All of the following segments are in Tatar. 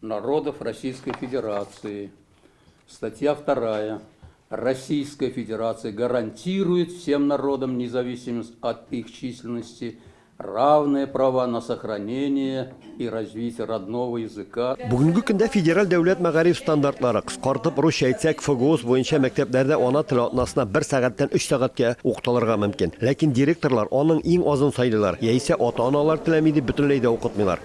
Народов Российской Федерации, статья вторая, Российская Федерация гарантирует всем народам независимость от их численности, равные права на сохранение и развитие родного языка. Бүгенге көндә федераль дәүләт мәгариф стандартлары, кыскартып русча әйтсәк, ФГОС буенча мәктәпләрдә ана теле атнасына бер сәгатьтән өч сәгатькә укытылырга мөмкин. Ләкин директорлар аның иң азын сайлыйлар, яисә ата-аналар теләми дип бөтенләй дә укытмыйлар.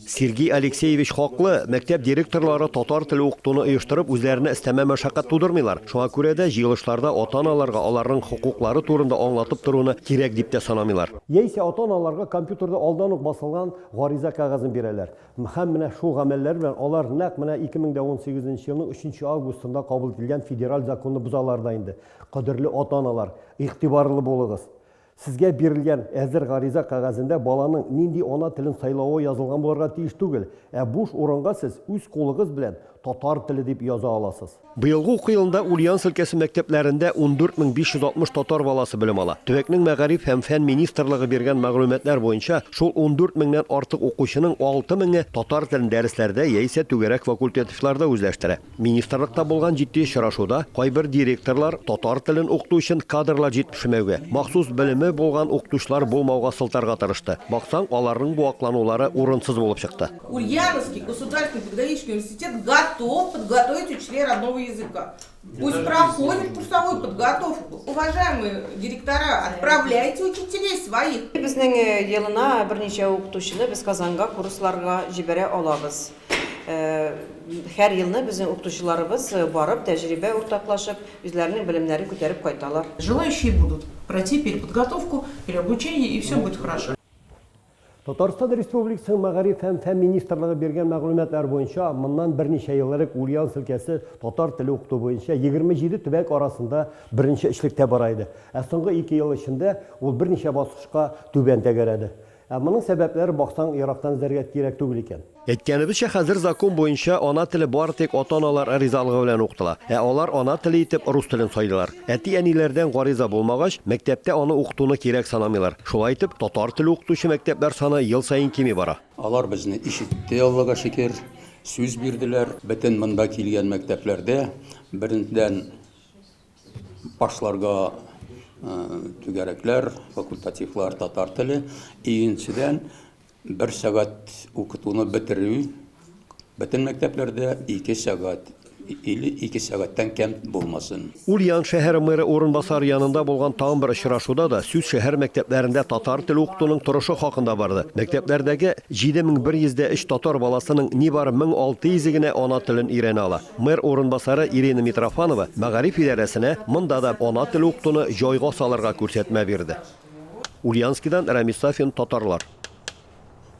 Сергей Алексеевич хаклы, мәктәп директорлары татар теле укытуны оештырып үзләренә өстәмә мәшәкать тудырмыйлар. Шуңа күрә дә җыелышларда ата-аналарга аларның хокуклары турында аңлатып торуны кирәк дип тә санамыйлар. Яисә ата-аналарга компьютерда алдан ук басылган гариза кәгазен бирәләр. Һәм менә шул гамәлләре белән алар нәкъ менә 2018 елның 3 августында кабул ителгән федераль законны бозалар да инде. Кадерле ата-аналар, игътибарлы булыгыз! Сезгә бирелгән әзер гариза кәгазендә баланың нинди ана телен сайлавы язылган булырга тиеш түгел, ә буш урынга сез үз кулыгыз белән татар теле дип яза аласыз. Быелгы уку елында Ульяновск өлкәсе мәктәпләрендә 14560 татар баласы белем ала. Төбәкнең Мәгариф һәм фән министрлыгы биргән мәгълүматлар буенча, шул 14 меңнән артык укучының 6 меңе татар телен дәресләрдә яисә түгәрәк факультативларда үзләштерә. Министрлыкта булган җитди очрашуда кайбер директорлар татар телен укыту өчен кадрлар җитешмәүгә, махсус белеме булган укытучылар булмауга сылтарга тырышты. Баксаң, аларның бу акланулары урынсыз булып чыкты. Ульяновский государственный педагогический университет готов подготовить учителей родного языка. Пусть проходят курсовую подготовку. Уважаемые директора, отправляйте учителей своих. Безнең елына берничә укытучыны без Казанга курсларга җибәрә алабыз. Һәр елны безнең укытучыларыбыз барып, тәҗрибә уртаклашып, үзләренең белемнәрен күтәреп кайталар. Желающие будут пройти переподготовку, переобучение и все будет хорошо. Татарстан Республикасының Мәгариф һәм фән министрлыгы биргән мәгълүматлар буенча, моннан берничә ел элек Ульяновск өлкәсе татар теле укыту буенча 27 төбәк арасында беренче өчлектә бара иде. Ә соңгы ике ел эчендә ул берничә баскычка түбән тәгәрәде. Ә моның сәбәпләре баксаң ерактан эзләргә кирәк түгел икән. Әйткәнебезчә, хәзер закон буенча ана теле бары тик ата-аналар ризалыгы белән укытыла. Ә алар ана теле итеп рус телен сайлыйлар. Әти-әниләрдән гариза булмагач, мәктәптә аны укытуны кирәк санамыйлар. Шулай итеп, татар теле укытучы мәктәпләр саны ел саен кими бара. Алар безне ишетте, Аллага шөкер, сүз бирделәр. Бөтен монда килгән мәктәпләрдә беренчедән Башларга түгәрәкләр, факультативлар татар теле. Икенчедән, бер сәгать укытуны бетерү бөтен мәктәпләрдә ике сәгать или ике сәгатьтән кәм булмасын. Ульян шәһәре мэры урынбасары янында булган тагын бер очрашуда да сүз шәһәр мәктәпләрендә татар теле укытуның торышы хакында барды. Мәктәпләрдәге 7103 татар баласының нибары 1600-е генә ана телен өйрәнә ала. Мэр урынбасары Ирина Митрофанова мәгариф идарәсенә монда да ана теле укытуны җайга салырга күрсәтмә бирде. Ульянскидан Рамис Сафин, Татарлар.